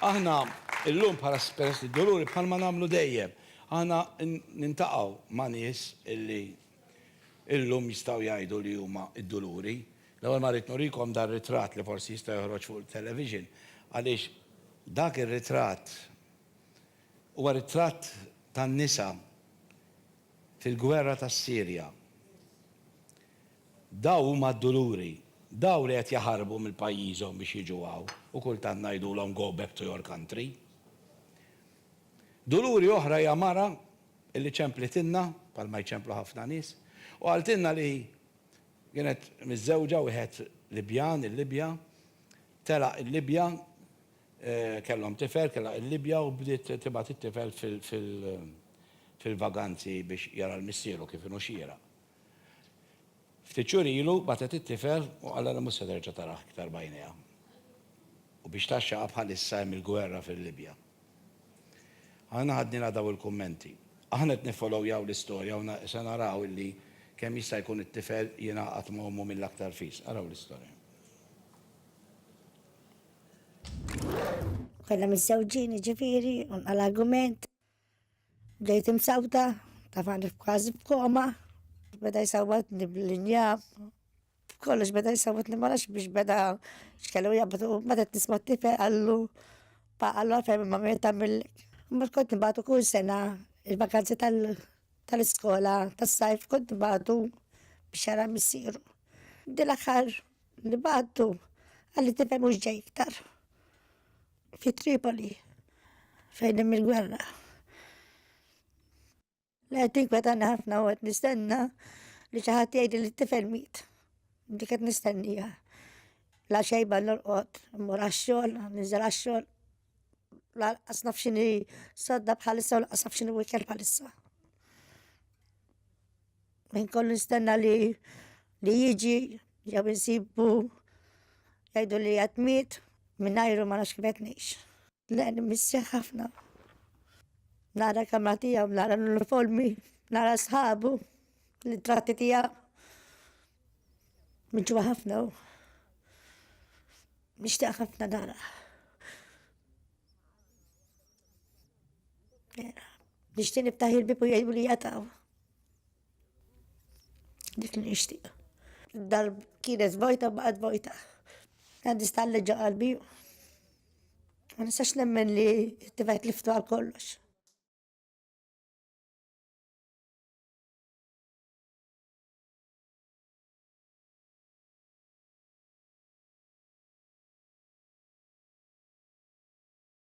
Aħna llum bħala Peress li d-Duluri bħalma nagħmlu dejjem, aħna nintaqgħu ma' nies li llum jistgħu jgħidu li huma d-Duluri. L-ewwel ma rrid nurikom dan ritratt li forsi jista' joħroġ fuq it-television għaliex dak ir-ritratt huwa ritratt tan-nisa fil-gwerra tas-Sirja. Dawn huma d-duluri. Dawn li qed jaħarbu minn pajjiżhom biex jiġu hawn u kultant ngħidulhom go back to your country. Duluri oħra hija mara li ċemplitilna, bħal ma jċemplu ħafna nies, u qaltilna li kienet miżżewġa wieħed Libjan, il-Libja, telaq il-Libja, kellhom tifel, telaq il-Libja u bdiet tibgħat it-tifel fil-vaganzi biex jara l-missieru kif inhu xieraq. Ftit xhur ilu bagħtet it-tifel u qalha li mhux se terġa' tarah iktar b'għajnejha. U biex tgħaxxaqha bħalissa hemm il-gwerra fil-Libja. Aħna ħadnielha daw il-kummenti. Aħna qed niffolowjaw l-istorja u se naraw illi kemm jista' jkun it-tifel jingħaqad ma' ommu mill-aktar fis. Araw l-istorja. Konna miżżewġin jiġifieri u nqala' argument. Bdejt imsawta, tafani f'każ b'koma, beda jsawwatni bl-injab, kollox beda jsawwatni ma nafx biex beda x'kellu jabdu, meta qed nisma' t-tifel qallu pa qallu għalfejn imma min tagħmillek. Imbagħad kont nibgħatu kull sena il-vakanzi tal-iskola tas-sajf kont nibgħatu biex jara missieru. Din l-aħħar nibgħatu qalli t-tifel mhux ġej iktar. Fi Tripoli, fejn hemm il-gwerra. La qed tinkwetan ħafna u qed nistenna li xi ħadd jgħid li t-tifel miet. Dik qed nistennija. La xejba l-orqod, mur għax-xogħol, niżel għax-xogħol. La qas naf x'inhi sodda bħalissa u laqas naf x'inhi wikel bħalissa. Min kollu nistenna li li jiġi jew insibu jgħidu li qed miet mingħajru ma nafx kif qed ngħix. Le nimissja ħafna. Nara kamra tiegħu, nara l-uniformi, nara sħabu, l-tratti tiegħu. Minġu ħafna u nixtieq ħafna nara. Nixtieq niftaħ il-bibu jgħidu li jataw. Dik li nixtieq. Dar kienet vojta baqgħet vojta. Għandi stalli ġo qalbi. Ma nistax nemmen li t-tifajt liftu għal kollox.